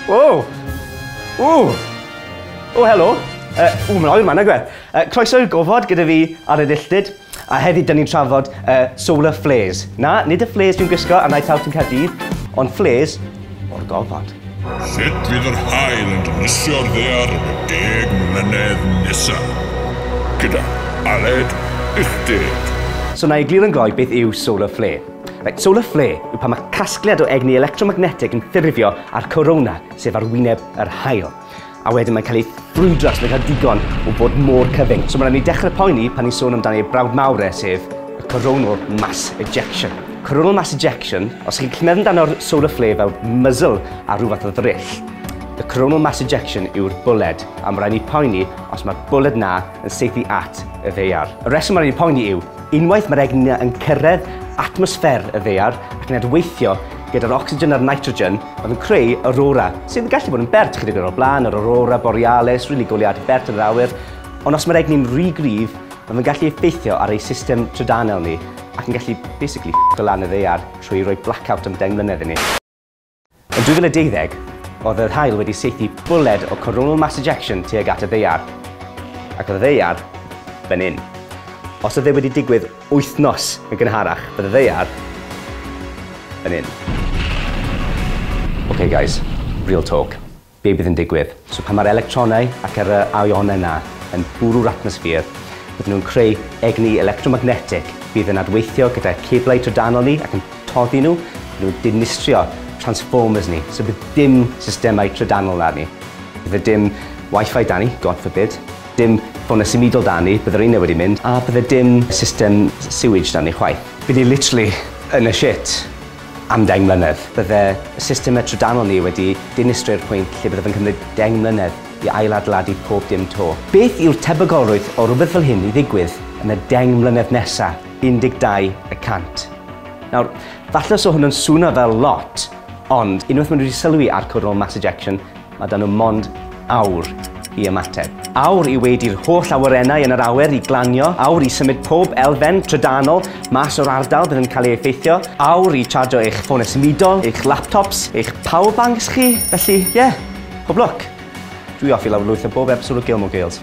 Wow! Ww! O, helo! Uh, ww, mae'n oer ma, nag e? Uh, croeso i'r gofod gyda fi ar y dilltyd. A heddi, dyn ni'n trafod uh, solar flares. Na, nid y flares fi'n gwisgo a naeth out yn Caerdydd, ond flares o'r gofod. Sut fydd yr hael yn dynisio'r ddear yn y deg mlynedd nesaf? Gyda Aled Uchdeg. So na i glir yn gloi beth yw solar flare. Reit, solar flare yw pan mae casgliad o egni electromagnetig yn ffurfio a'r corona, sef ar wyneb yr haul. A wedyn mae'n cael ei ffrwydro os mae'n cael digon o bod mor cyfyng. So mae'n rhaid ni dechrau poeni pan ni'n sôn amdano ei brawd mawr e, sef y coronal mass ejection. Coronal mass ejection, os chi'n clymedd amdano'r solar flare fel muzzle ar rhyw fath o ddryll, The coronal mass ejection yw'r bwled, a mae rhaid ni poeni os mae'r bwled na yn seithi at y ddeiar. Y reswm mae rhaid ni poeni yw, Unwaith mae'r egni yn cyrraedd atmosffer y ddaear ac yn adweithio gyda'r ocsigen a'r nitrogen, mae'n creu aurora, sydd yn gallu bod yn bert chydig o'r blaen, yr aurora borealis, rili goliad bert yn yr awyr, ond os mae'r egni'n rhy gryf, mae fe'n gallu effeithio ar ei system trydanol ni ac yn gallu basically ff***o lan y ddaear trwy roi blackout am 10 mlynedd i ni. Yn 2020, oedd yr haul wedi saethu bwled o coronal mass ejection tuag at y ddaear, ac oedd y ddaear fan hyn. Os oedd e wedi digwydd wythnos yn gynharach, bydd y ddaear fan hyn. Ok guys, real talk. Be bydd yn digwydd? So pan mae'r electronau ac yr ionau yna yn bwrw'r atmosffer, bydden nhw'n creu egni electromagnetig fydd yn adweithio gyda ceblau trydanol ni ac yn toddi nhw, bydden nhw'n dinistrio transformers ni, so bydd dim systemau trydanol 'da ni. Bydde dim Wi-Fi 'da ni, God forbid, dim ffonau symudol 'da ni, bydde'r rheina wedi mynd, a bydde dim system sewage 'da ni chwaith. By' ni literally yn y shit. am deng mlynedd. Bydde y system y trydanol ni wedi dinistrio i'r pwynt lle byddaf yn cymryd deng mlynedd i ail-adeiladu pob dim 'to. Beth yw'r tebygolrwydd o rywbeth fel hyn i ddigwydd yn y deng mlynedd nesa? 12 y cant. Nawr, falle os o hwn yn swno fel lot, ond unwaith maen nhw wedi sylwi ar coronal mass ejection, Mae 'da nhw mond awr i ymateb. Awr i weidi'r holl awyrennau yn yr awyr i glanio, awr i symud pob elfen trydanol mas o'r ardal bydd yn cael ei effeithio, awr i chargio eich ffonau symudol, eich laptops, eich power banks chi, felly ie, yeah, pob lwc! Dwi off i lawrlwytho bob episode o Gilmore Girls.